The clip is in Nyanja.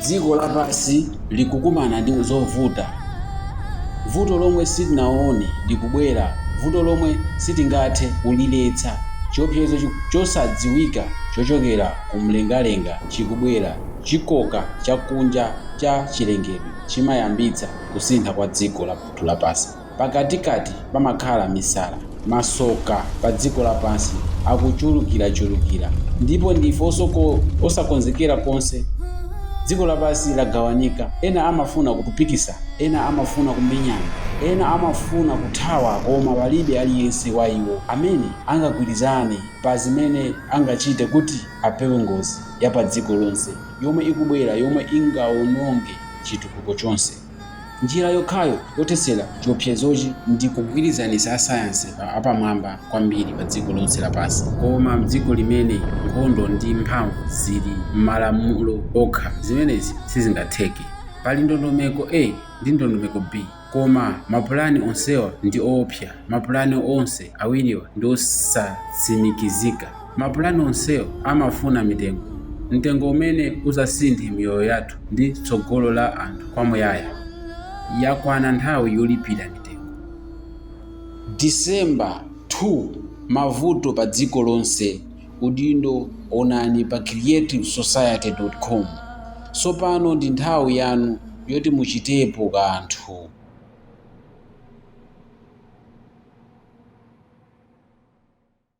Dziko lapansi likukumana ndi zovuta. Vuto lomwe sitinaone likubwera, vuto lomwe sitingathe kuliletsa. Chiopsezo chosadziwika chochokera kumlengalenga chikubwera. Chikoka chakunja cha chilengedwe chimayambitsa kusintha kwa dziko lathu lapansi. Pakatikati pamakhala misala. Masoka padziko lapansi akuchulukirachulukira, ndipo ndife osakonzekera konse. Dziko lapansi lagawanika. Ena amafuna kupikisana. Ena amafuna kumenyana. Ena amafuna kuthawa, koma palibe aliyense wa iwo amene angagwirizane pa zimene angachite kuti apewe ngozi yapadziko lonse yomwe ikubwera yomwe ingawononge chitukuko chonse. Njira yokhayo yothetsera chiwopsezochi ndi kugwirizanitsa asayansi apamwamba kwambiri padziko lonse lapansi. Koma m'dziko limene nkhondo ndi mphamvu zili m'malamulo okha, zimenezi sizingatheke. Pali ndondomeko A ndi ndondomeko B, koma mapulani onsewa ndi oopsa. Mapulani onse awiriwa ndi osatsimikizika. Mapulani onsewo amafuna mitengo, mtengo umene uzasinthe miyoyo yathu ndi tsogolo la anthu kwamuyaya. Yakwana nthawi yolipira mitengo. December 2, Mavuto Padziko Lonse, Udindo Onani pa creativesociety.com. Tsopano ndi nthawi yanu yoti muchitepo kanthu!